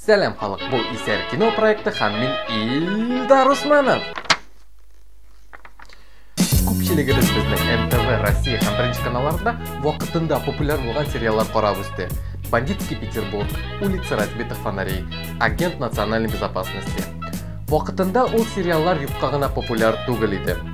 Сәлам халык, бу Исәр кино проекты һәм мин Илдар Усманов. Күпчелегебез безнең НТВ, Россия һәм Беренче каналларда вакытында популяр булган сериаллар карап үсте. Бандитский Петербург, Улица разбитых фонарей, Агент национальной безопасности. Вакытында ул сериаллар юкка гына популяр түгел иде.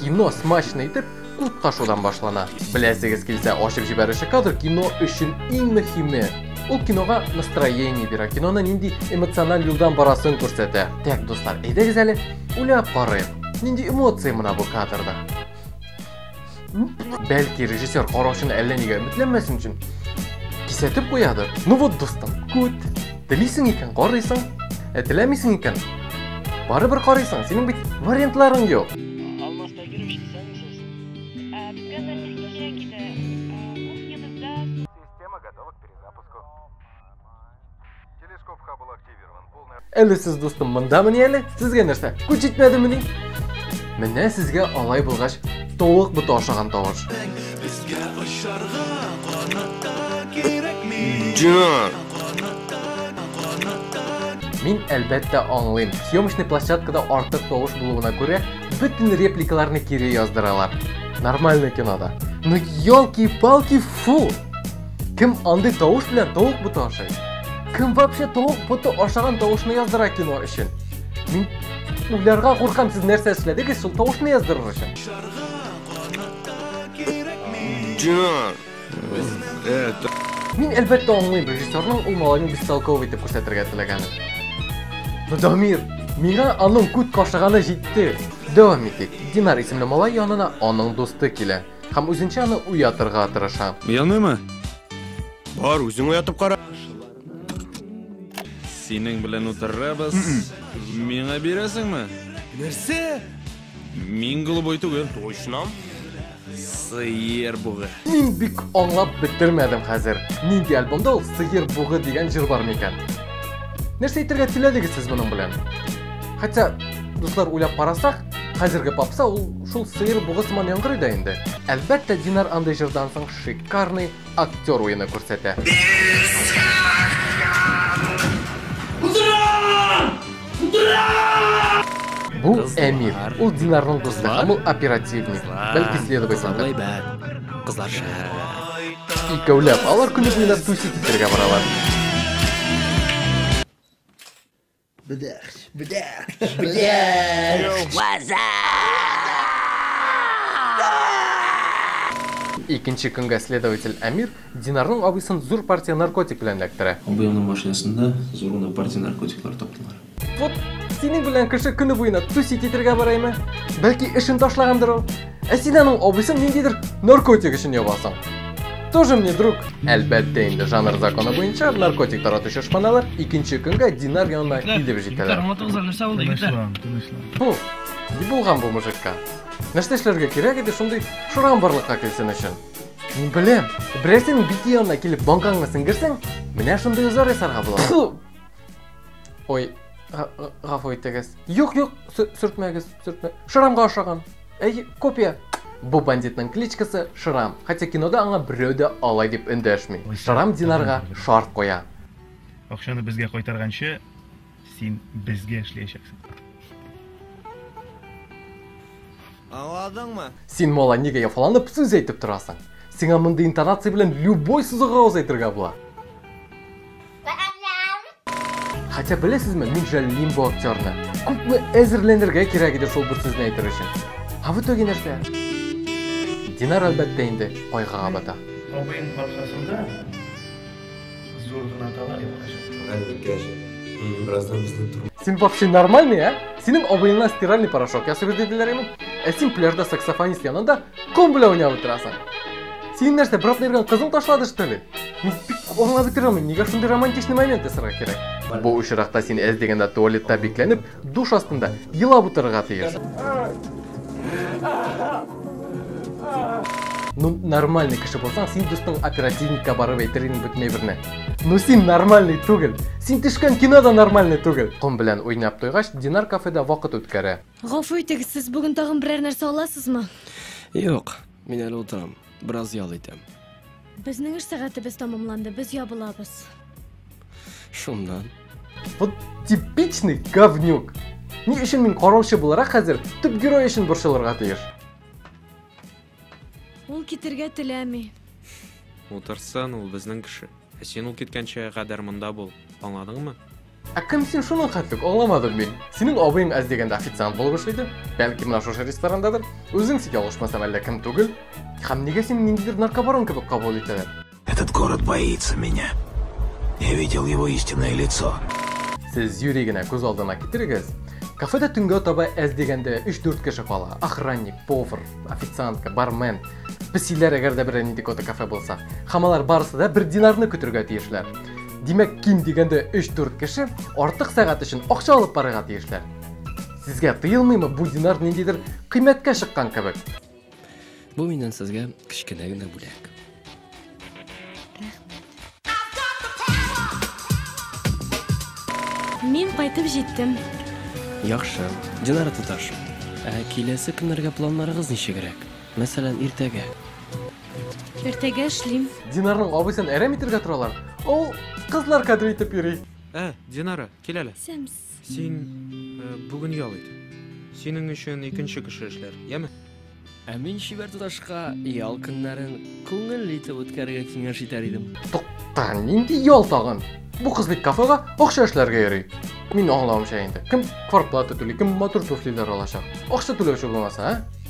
Кино смачно итеп кут ташудан башлана. Беләсегез килсә, ачып җибәрүче кадр кино өчен иң мөһиме. Ул кинога настроение бирә, киноны нинди эмоциональ юлдан барасын күрсәтә. Тәк, дуслар, әйдәгез әле, уйлап карыйк. Нинди эмоция мына бу кадрда? Бәлки режиссер караучыны әллә нигә өметләнмәсен өчен кисәтеп куядыр? Ну вот, дустым, күт. Телисең икән, карыйсың. Ә теләмисең икән, барыбер карыйсың. Синең бит вариантларың юк. Алмаста керүче исәнмесез. Безгә нәрсә кирәк иде? Кухнябызда Система готова к перезапуску. Телескоп ха был активирован. Полная... Әле сез, дустым, мондамыни әле? Сезгә нәрсә? Күз җитмәдемени? Менә сезгә алай булгач, тавык боты ашаган тавыш. Безгә очарга канатта кирәкми. Дина! Мин, әлбәттә, аңлыйм. Съемочный площадкада артык тавыш булуына күрә, бөтен репликаларны кире яздыралар. Нормальный кинода. Ну, елки-палки, фу! Кем андый тавыш белән тавык буты ашый? Кем вообще тавык буты ашаган тавышны яздыра кино өчен? Мин уйларга куркам, сез нәрсә эшләдегез шул тавышны яздырыр өчен? Динар! Мин әлбәттә аңлыйм, режиссерның ул малайны бестолковый итеп күрсәтергә теләгәнен. Но Дамир, миңа аның күт кашыганы җитте. Дәвам итик. Динар исемле малай янына аның дусты килә һәм үзенчә аны уятырга тырыша. Яныймы? Бар, үзең уятып кара. Синең белән утырабыз. Миңа бирәсеңме? Нәрсә? Мин голубой түгел. Точно. Сыер бугы. Мин бик аңлап бетермәдем хәзер. Нинди альбомда ул Сыер бугы дигән җыр бар микән? Нәрсә әйтергә теләдегез сез моның белән? Хотя, дуслар уйлап карасак, хәзерге попса ул шул сыер бугы сыман яңгырый да инде. Әлбәттә, Динар андый җырдан соң шикарный актер уены күрсәтә. Бу Әмир. Ул Динарның дусты һәм ул оперативник. Бәлки следователь. Кызлар шәһәрдә. Икәүләп алар көне буена тусить итәргә баралар. Бдяхч, бдяхч, бдяхч! Ваза! Икенче көнгә следователь Әмир Динарның абыйсын зур партия наркотик белән эләктерә. Абыеңның машинасында зур гына партия наркотиклар таптылар. Вот синең белән кеше көне буена тусить итергә бараймы? Бәлки эшен ташлагандыр ул? Ә син аның абыйсын ниндидер наркотик өчен ябасың. Тоже мне друг. Әлбәттә инде жанр законы буенча наркотик таратучы шпаналар икенче көнгә Динар янына килеп җитәләр. Бу, ни булган бу мужикка? Нәрсә эшләргә кирәк иде шундый шурам барлыкка килсен өчен? Мин беләм, берәрсенең бите янына килеп банкаңны сеңгерсәң, менә шундый узар ясарга була. Ой, гафу итегез. Юк, юк, сүртмәгез, сүртмә. Шурамга ошаган. Әй, копия! Бу бандитның кличкасы Шрам, хотя кинода аңа берәү дә алай дип эндәшми. Шрам Динарга шарт куя. Акчаны безгә кайтарганчы, син безгә эшләячәксең. Аңладыңмы? Син мола нигә яфаланып сүз әйтеп торасың? Сиңа мондый интонация белән любой сүз гауз әйтергә була. Хотя беләсезме, мин жәллим бу актерны. Күпме әзерләнергә кирәк иде шул бер сүзне әйтер өчен. Ә в итоге нәрсә? Динар әлбәттә инде кайгыга бата. Абыем капсасында зур гына тала Син вообще нормальный, а? Синең абыеңнан стиральный порошок ясыйбыз диделәр имин. Ә син пляжда саксофонист янында Ком белән уйнап утырасың. Син нәрсә, брат йөргән кызың ташлады, что ли? Мин бик аңлап бетерә алмыйм, нигә шундый романтичный момент ясарга кирәк? Бу очракта син әз дигәндә туалетта бикләнеп, душ астында елап утырырга тиеш. Ну, нормальный кеше булсаң, син дустың оперативникка барып әйтер идең бөтен әйберне. Ну, син нормальный түгел. Син төшкән кино да нормальный түгел. Ком белән уйнап туйгач, Динар кафеда вакыт үткәрә. Гафу итегез, сез бүген тагын берәр нәрсә аласызмы? Юк, мин әле утырам. Бераз ял итәм. Безнең эш сәгатебез тәмамланды, без ябылабыз. Шуннан. Вот типичный говнюк. Ни өчен мин караучы буларак хәзер төп герой өчен борчылырга тиеш? Ул китергә теләми. Утырсын, ул безнең кеше. Ә син ул киткәнчә кадәр монда бул. Аңладыңмы? Ә кем син шуның хәтлек, аңламадым мин. Синең абыең әз дигәндә официант булып эшлиде. Бәлки менә шушы ресторандадыр. Үзең сик ялгышмасам әллә кем түгел. Һәм нигә син ниндидер наркобарон кебек кабул итәләр? Этот город боится меня. Я видел его истинное лицо. Сез юри генә күз алдына китерегез. Кафеда төнгә таба әз дигәндә 3-4 кеше кала. Охранник, повар, официантка, бармен. Песиләр әгәр дә берәр нинди кота кафе булса. Хамалар барысы да бер динарны көтергә тиешләр. Димәк, ким дигәндә 3-4 кеше артык сәгать өчен акча алып барырга тиешләр. Сезгә тыелмыймы бу динар ниндидер кыйммәткә чыккан кебек? Бу миннән сезгә кечкенә генә бүләк. Мин кайтып җиттем. Яхшы. Динара туташ. Ә киләсе көннәргә планнарыгыз ничегрәк? Мәсәлән, иртәгә. Иртәгә эшлим. Динарның абыйсын әрәм итергә торалар. Ул кызлар кадер итеп йөри. Ә, Динара, кил әле. Сәмс. Син э, бүген ял ит. Синең өчен икенче кеше эшләр, яме? Ә мин чибәр туташка ял көннәрен күңелле итеп үткәрергә киңәш итәр идем. Тукта, нинди ял тагын? Бу кыз бит кафега акча эшләргә йөри. Мин аңламыймча инде. Кем квартплата түли, кем матур туфлиләр алачак? Акча түләүче булмаса, а?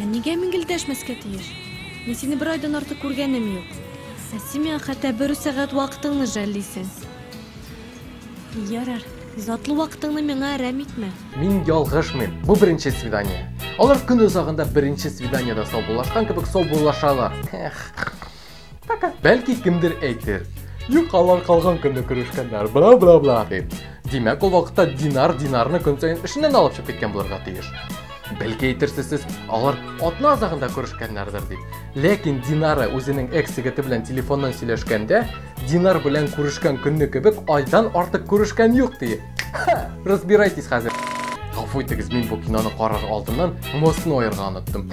Ә нигә мин гел дәшмәскә тиеш? Мин сине бер айдан артык күргәнем юк. Ә син миңа хәтта бер үк сәгать вакытыңны жәллисең. Ярар, затлы вакытыңны миңа әрәм итмә. Мин ялгышмыйм, бу беренче свидание. Алар көн озагында беренче свиданиедә саубуллашкан кебек саубуллашалар. Эх. Пока. Бәлки кемдер әйтер. Юк, алар калган көнне күрешкәннәр. Бла бла бла дип. Димәк, ул вакытта динар динарны көн саен эшеннән алып чыгып киткән булырга тиеш. Бәлки әйтерсез сез, алар атна азагында күрешкәннәрдер дип. Ләкин Динара үзенең экс-егете белән телефоннан сөйләшкәндә, Динар белән күрешкән көнне кебек айдан артык күрешкән юк ди. Разбирайтесь хәзер. Гафу итегез, мин бу киноны карар алдыннан мосны аерга оныттым.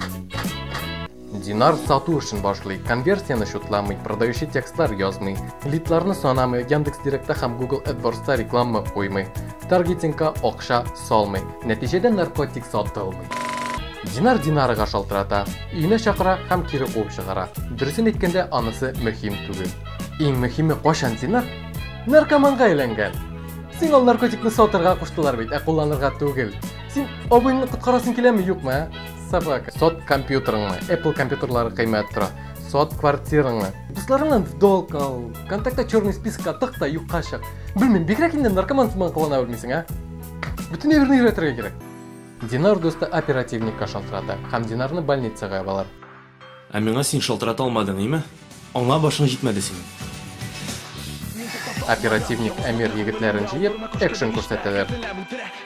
Динар сату эшен башлый, конверсияне счетламый, продающий текстлар язмый, лидларны санамый, Яндекс.Директта һәм Google AdWords'та реклама куймый, таргетингка акча салмый. Нәтиҗәдә наркотик сатылмый. Динар Динарга шалтырата, өенә чакыра һәм кире куып чыгара. Дөресен әйткәндә, анысы мөһим түгел. Иң мөһиме, кайчан Динар наркоманга әйләнгән? Син ул наркотикны сатырга куштылар бит, ә кулланырга түгел. Син абыйны коткарасың киләме, юкмы, ә? Собака. Сот компьютерыңны. Apple компьютерлары кыйммәт тора. Сот квартираңны. Дусларыңнан в долг ал. Контактта черный спискка тык та юкка чык. Белмим, бигрәк инде наркоман сыман кылана белмисең, а? Бүтән әйберне өйрәтергә кирәк. Динар дусты оперативникка шалтырата һәм Динарны больницага ябалар. Ә миңа син шалтырата алмадың, име? Аңа башың җитмәде синең. Оперативник Әмир егетләрен җыеп, экшн күрсәтәләр.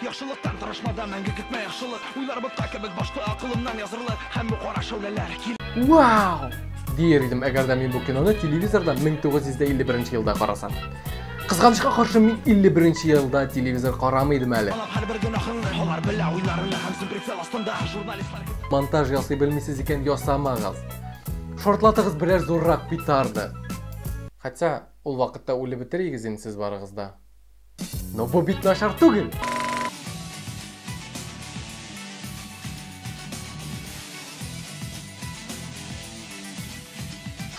Яхшылыктан тырышмада мәңге көтмә яхшылык Уйлар ботка кебек башта акылымнан язырлык Һәм бу кара шәүләләр кил Вау! Дияр идем, әгәр дә мин бу киноны телевизордан 1951 елда карасам. Кызганычка каршы, мин 51 елда телевизор карамый идем әле. Монтаж ясый белмисез икән ясамагыз. Шортлатыгыз берәр зуррак петарда. Хотя ул вакытта үле бетерегез инде сез барыгыз да. Но бу бит нашар түгел.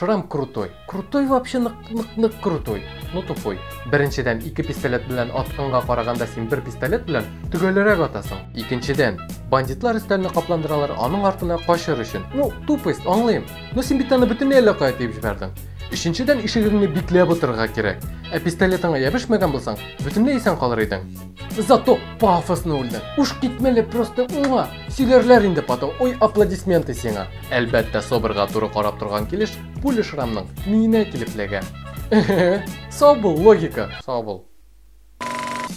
Шрам крутой. Крутой вообще нык нык нык крутой. Ну тупой. Беренчедән, ике пистолет белән атканга караганда син бер пистолет белән төгәлерәк атасың. Икенчедән, бандитлар өстәлне капландыралар аның артына качыр өчен. Ну, тупость, аңлыйм. Ну син бит аны бөтенләй әллә кая тиеп җибәрдең. Өченчедән, ишегеңне бикләп утырырга кирәк. Ә пистолетыңа ябешмәгән булсаң, бөтенләй исән калыр идең. Зато пафосно үлдең. Уш китмәле просто уңа. Сөйләрләр инде потом. Ой, аплодисменты сиңа. Әлбәттә, Соберга туры карап торган килеш пуля шрамның миенә килеп ләгә. Сау бул, логика. Сау бул.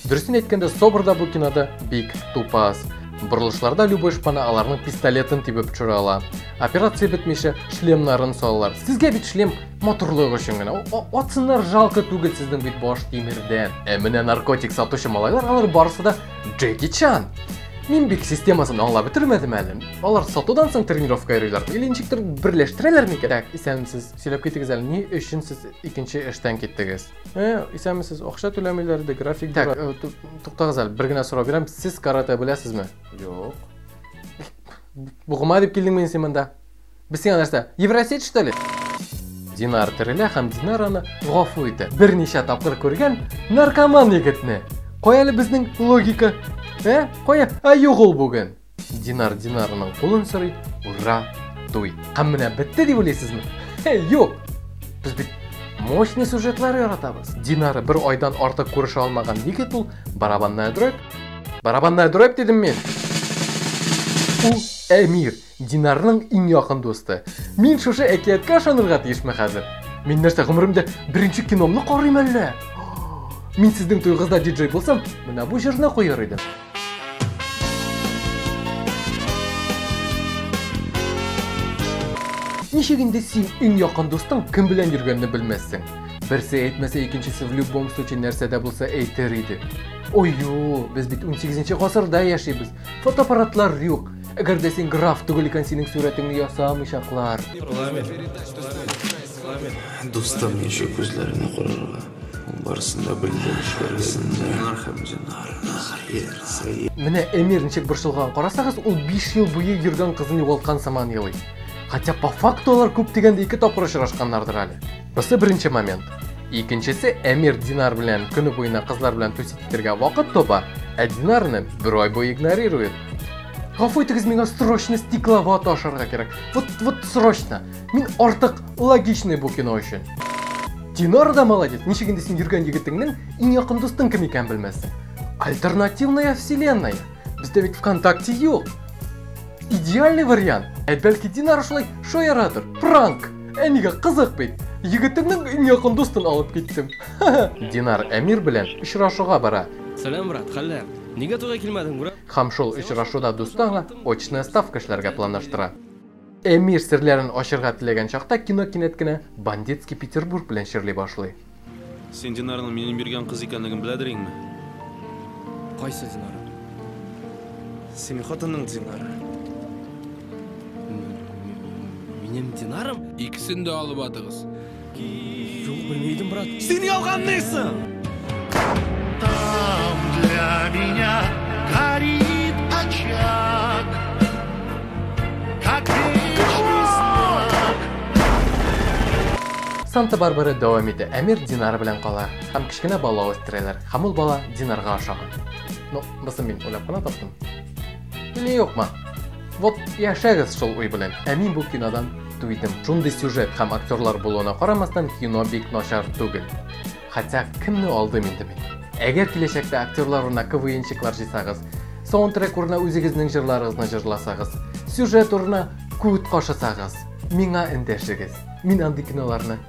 Дөресен әйткәндә, Собер да бу кинода бик тупас. Борылышларда любой шпана аларның пистолетын тибеп төшерә ала. Операция бетмичә шлемнарын салалар. Сезгә бит шлем Матурлык өчен генә. Атсыннар жалко түгел сезнең бит баш тимердән. Ә менә наркотик сатучы малайлар алар барысы да Джеки Чан. Мин бик системасын аңлап бетермәдем әле. Алар сатудан соң тренировка йөриләр. Или ничектер берләштерәләр микән? Так, исәнмесез. Сөйләп китегез әле, ни өчен сез икенче эштән киттегез? Э, исәнмесез. Акча түләмиләр иде, график Так, э, туктагыз әле, бер генә сорау бирәм. Сез каратэ беләсезме? Юк. Бугыма дип килдеңме син монда? Без сиңа нәрсә? Евросеть что ли? Динар терелә һәм Динараны гафу итә. Берничә тапкыр күргән наркоман егетне. Кая әле безнең логика? Ә? Кая? А юк ул бүген. Динар Динарының кулын сорый. Ура! Туй. Һәм менә бетте дип уйлыйсызмы? Юк. Без бит мощный сюжетлар яратабыз. Динары бер айдан артык күрешә алмаган егет ул барабанная дробь. Барабанная дробь дидем мин. Ул Эмир. Динарның иң якын дусты. Мин шушы әкияткә ышанырга тиешме хәзер? Мин нәрсә, гомеремдә беренче киномны карыйм әллә? Мин сезнең туйгызда диджей булсам, менә бу җырны куяр идем. Ничек инде син иң якын дустың кем белән йөргәнне белмәссең? Берсе әйтмәсә, икенчесе в любом случае нәрсә дә булса әйтер иде. Ой, без бит 18 нче гасырда яшибез. Фотоаппаратлар юк. Әгәр дә син граф түгел икән, синең сурәтеңне ясамыйчаклар. Парламент. Дустым, ничек күзләренә карарга? Барысын да белдем, эшләрсен дә. Нар һәм динар, хәер, сәер. Менә Эмир ничек борчылган. Карасагыз, ул 5 ел буе йөргән кызын югалткан сыман елый. Хотя по факту алар күп дигәндә ике тапкыр очрашканнардыр әле. Бусы беренче момент. Икенчесе Эмир Динар белән көне буена кызлар белән тусить итәргә вакыт тоба, ә Динарны бер ай буе игнорирует. Гафу итегез, миңа срочно стеклова ташырга кирәк. Вот, вот срочно. Мин артык логичный бу кино өчен. Динар да молодец. Ничек инде син йөргән егетеңнең иң якын дустың кем икән белмәссең. Альтернативная вселенная. Бездә бит ВКонтакте юк. Идеальный вариант. Ә бәлки Динар шулай шаяратыр. Пранк. Ә нигә кызык бит. Егетемнең иң якын дустын алып киттем. Динар Әмир белән очрашуга бара. Сәлам, брат, хәлләр? Нигә туйга килмәдең, брат? Һәм шул очрашуда дусты аңа очная ставка эшләргә планлаштыра. Эмир серләрен ачырга теләгән чакта кино кинәт кенә Бандитский Петербург белән чирли башлый. Син Динарның минем биргән кыз икәнлеген беләдер иңме? Кайсы Динар? Синең хатының Динары. Минем Динарым? Икесен дә алып атыгыз. Юк, белми идем, брат. Син ялганлыйсың! Там для меня горит очаг, как вечный знак. Санта-Барбара дәвам итә. Әмир Динар белән кала һәм кечкенә бала үстерәләр. Һәм ул бала Динарга ашаган. Ну, бысын мин уйлап кына таптым. Или юкмы? Вот яшәгез шул уй белән. Ә мин бу кинодан көтү идем. Шундый сюжет һәм актерлар булуына карамастан, кино бик начар түгел. Хотя кемне алдым инде мин? Әгәр киләчәктә актерлар урынына КВНчиклар җыйсагыз, саундтрек урынына үзегезнең җырларыгызны җырласагыз, сюжет урынына күт кашысагыз, миңа эндәшегез. Мин андый киноларны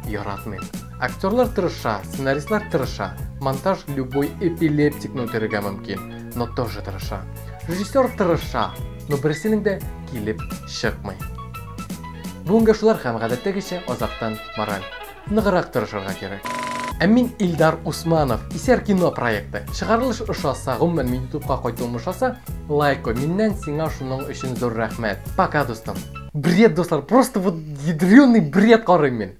яратмыйм. Актерлар тырыша, сценаристлар тырыша, монтаж любой эпилептикны үтерергә мөмкин, но тоже тырыша. Режиссер тырыша, Но берсенең дә килеп чыкмый. Бүгенгә шулар һәм гадәттәгечә азактан мораль. Ныгырак тырышырга кирәк. Ә мин Илдар Усманов, Исәр кино проекты. Чыгарылыш ошаса, гомумән мин ютубка кайтуым ошаса, лайк кой. Миннән сиңа шуның өчен зур рәхмәт. Пока, дустым. Бред, дуслар, просто вот ядреный бред карыйм мин.